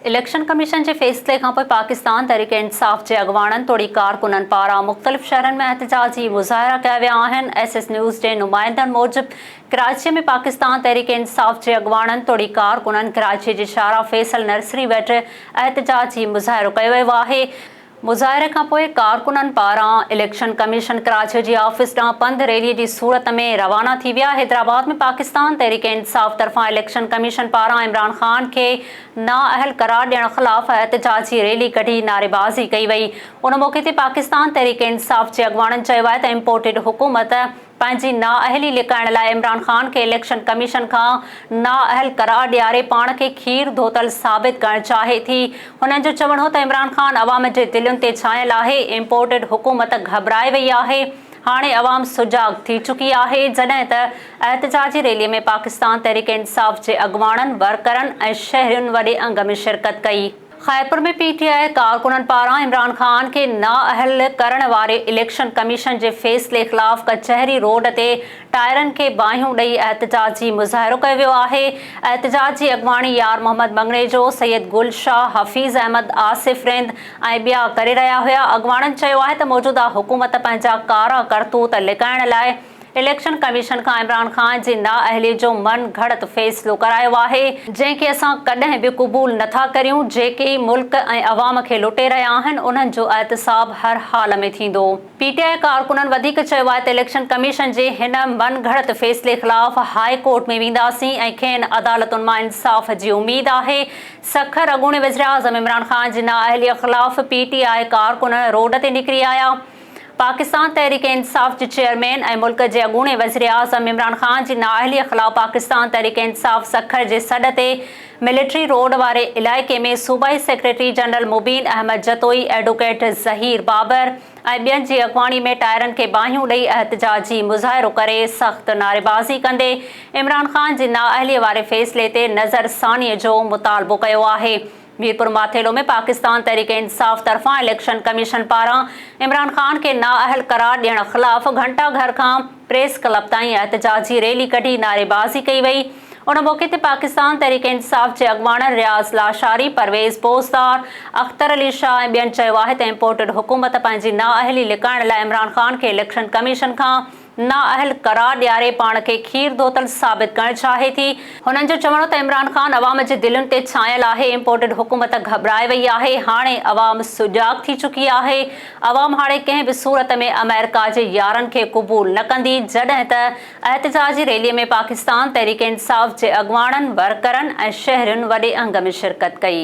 Election commission جي فيصلي کانپوء پاڪستان تحريڪ انصاف جي اڳواڻن توڙي ڪارڪنن پاران مختلف شهرن ۾ احتجاجي مظاهرا ڪيا ويا آهن، ايس ايس نيوز جي نمائندن موجب ڪراچي ۾ پاڪستان تحريڪ انصاف جي اڳواڻن توڙي ڪارڪنن ڪراچي جي شاهراهه فيصل نرسري وٽ احتجاجي مظاهرو ڪيو ويو آهي. مظاهري کان پوء ڪارڪنن پاران اليڪشن ڪميشن ڪراچيء جي آفيس ڏانهن پنڌ ريليء جي صورت ۾ روانا ٿي ويا، حيدرآباد ۾ پاڪستان تحريڪ انصاف طرفان اليڪشن ڪميشن پاران عمران خان کي نااهل قرار ڏيڻ خلاف احتجاجي ريلي ڪڍي نعريبازي ڪئي وئي، ان موقعي تي پاڪستان تحريڪ انصاف جي اڳواڻن چيو آهي ته امپورٽيڊ حڪومت پنهنجي نااهلي لڪائڻ لاء عمران خان کي اليڪشن ڪميشن کان نااهل قرار ڏياري پاڻ کي کير ڌوتل ثابت ڪرڻ چاهي ٿي. هنن جو چوڻ هو ته عمران خان عوام جي دلين تي ڇانيل آهي، امپورٽيڊ حڪومت گهٻرائي وئي آهي، هاڻي عوام سجاڳ ٿي چڪي آهي، جڏهن ته احتجاجي ريلي ۾ پاڪستان تحريڪ انصاف جي اڳواڻن، ورڪرن ۽ شهرين وڏي انگ ۾ شرڪت ڪئي. خيرپور ۾ پي ٽي آء ڪارڪنن پاران عمران خان کي نااهل ڪرڻ واري اليڪشن ڪميشن جي فيصلي خلاف ڪچهري روڊ تي ٽائرن کي باهيون ڏئي احتجاجي مظاهرو ڪيو ويو آهي احتجاج جي اڳواڻي يار محمد مڱڻيجو، سيد گل شاهه، حفيظ احمد، آصف رند ۽ ٻيا ڪري رهيا هيا اڳواڻن چيو آهي ته موجوده حڪومت پنهنجا ڪارا ڪرتوت لڪائڻ لاء اليڪشن ڪميشن کان عمران خان جي نااهلي جو من گهڙت فيصلو ڪرايو آهي، جنهن کي اسان ڪڏهن به قبول نه ٿا ڪريون، جيڪي ملڪ ۽ عوام کي لٽي رهيا آهن، انهن جو احتساب هر حال ۾ ٿيندو. پي ٽي آء ڪارڪنن وڌيڪ چيو آهي ته اليڪشن ڪميشن جي هن من گهڙت فيصلي خلاف هاء ڪورٽ ۾ وينداسين ۽ کين عدالتن مان انصاف جي اميد آهي. سکر، اڳوڻي وزيراعظم عمران خان جي نااهلي خلاف پي ٽي آء ڪارڪن روڊ تي نڪري آيا، پاڪستان تحريڪ انصاف جي چيئرمين ۽ ملڪ جي اڳوڻي وزيراعظم عمران خان جي نااهليء خلاف پاڪستان تحريڪ انصاف سکر جي سڏ تي ملٽري روڊ واري علائقي ۾ صوبائي secretary general Mubeen Ahmed Jatoi, advocate Zaheer Babar ۽ ٻين جي اڳواڻي ۾ ٽائرن کي باهيون ڏئي احتجاجي مظاهرو ڪري سخت نعريبازي ڪندي عمران خان جي نااهليء واري فيصلي تي نظرثانيء جو مطالبو ڪيو آهي. ميرپورماٿيلو ۾ پاڪستان تحريڪ انصاف طرفان اليڪشن ڪميشن پاران عمران خان کي نااهل قرار ڏيڻ خلاف گهنٽا گهر کان پريس ڪلب تائين احتجاجي ريلي ڪڍي نعريبازي ڪئي وئي ان موقعي تي پاڪستان تحريڪ انصاف جي اڳواڻن رياض لاشاري پرويز پوزدار اختر علي شاهه ۽ ٻين چيو آهي ته امپورٽڊ حڪومت پنهنجي نااهلي لڪائڻ لاء عمران خان کي اليڪشن ڪميشن کان نااهل قرار ڏياري پاڻ کي کير ڌوتل ثابت ڪرڻ چاهي ٿي. هنن جو چوڻ هو ته عمران خان عوام جي دلين تي ڇانيل آهي، امپورٽيڊ حڪومت گهٻرائي وئي آهي، هاڻي عوام سجاڳ ٿي چڪي آهي، عوام هاڻي ڪنهن به صورت ۾ آمريڪا جي يارن کي قبول نه ڪندي، جڏهن ته احتجاجي ريلي ۾ پاڪستان تحريڪ انصاف جي اڳواڻن، ورڪرن ۽ شهرين وڏي انگ ۾ شرڪت ڪئي.